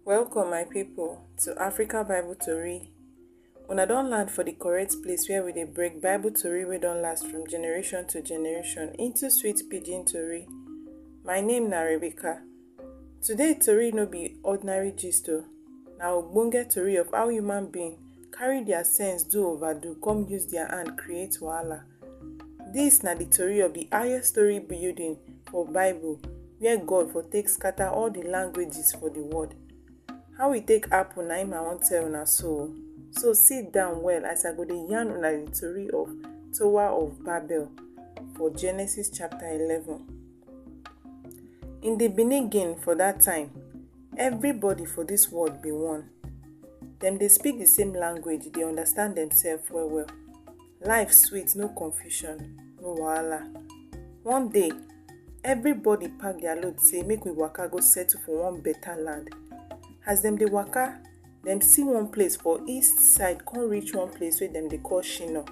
Welcome, my people, to Africa Bible Tori. Una don land for the correct place where we dey break Bible Tori wey don last from generation to generation into sweet pidgin Tori. My name na Rebecca. Today Tori no be ordinary gist o, na ogbonge Tori of how human being carry their sense do overdo come use their hand create wahala. Dis na di tori of di highest story building for Bible where God for take scatter all di languages for di world. How e take happen na im I wan tell una so. So sit down well as I go dey yarn una di tori of Tower of Babel for Genesis chapter eleven. In di beginning for dat time, everybody for dis world be one. Dem dey speak di same language, dey understand demsef well well. Life sweet, no confusion, no wahala. One day, everybody pack their load say make we waka go settle for one better land. As dem dey waka, dem see one place for east side come reach one place wey dem dey call Shino,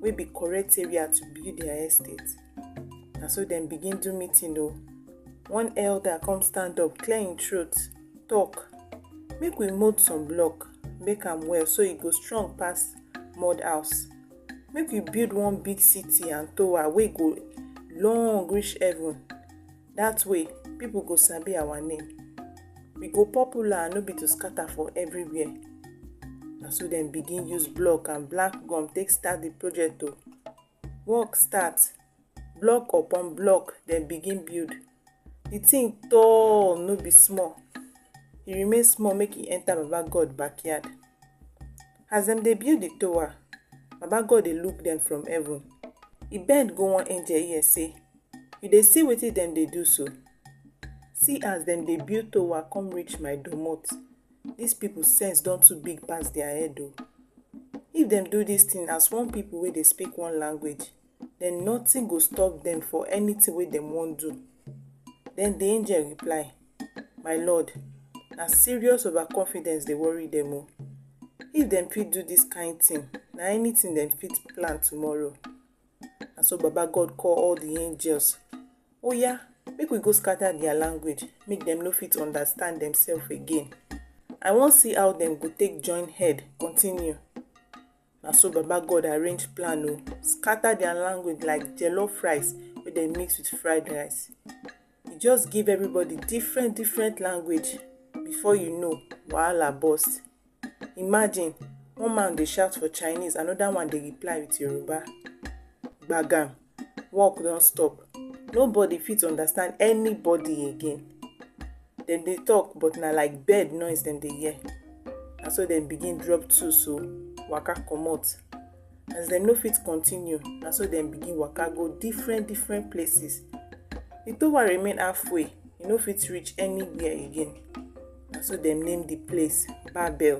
wey be correct area to build their estate. Na so dem begin do meeting o. One elder come stand up, clear im throat, talk, make we mould some block. make am well so e go strong pass mud house make we build one big city and tower wey go long reach heaven that way people go sabi our name we go popular no be to scatter for everywhere na so dem begin use block and black gum take start the project o work start Block upon block dem begin build. The thing tall no be small. E remain small make e enter Baba God backyard. As dem dey build the tower, Baba God dey look dem from heaven. E bend go one angel ear say, You dey see wetin dem dey do so? See as dem dey build tower come reach my domot. Dis people sense don too big pass their head o. If dem do dis thing as one people wey dey speak one language, then nothing go stop them for anything wey dem wan do. Then the angel reply, My Lord, na serious overconfidence dey worry them o. If dem fit do this kind thing, na anything dem fit plan tomorrow. Na so Baba God call all the angels. Oya, make we go scatter their language, make dem no fit understand themselves again. I wan see how dem go take join head continue. na so baba god arrange plan o scatter their language like jollof rice wey dem mix with fried rice e just give everybody different different language before you know wahala burst imagine one man dey shout for chinese another one dey reply with yoruba gbagam work don stop nobody fit understand anybody again dem dey talk but na like bird noise dem dey hear na so dem begin drop two so waka comot as dem no fit continue na so dem begin waka go different different places the tower remain halfway e no fit reach anywhere again na so dem name the place babel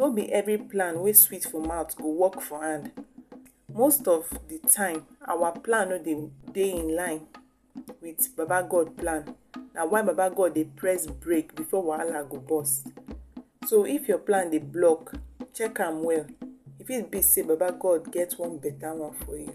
No be every plan wey sweet for mouth go work for hand. Most of the time, our plan no dey dey in line with Baba God plan. Na why Baba God dey press break before wahala go burst. So if your plan dey block, check am well. E fit be sey Baba God get one better one for you.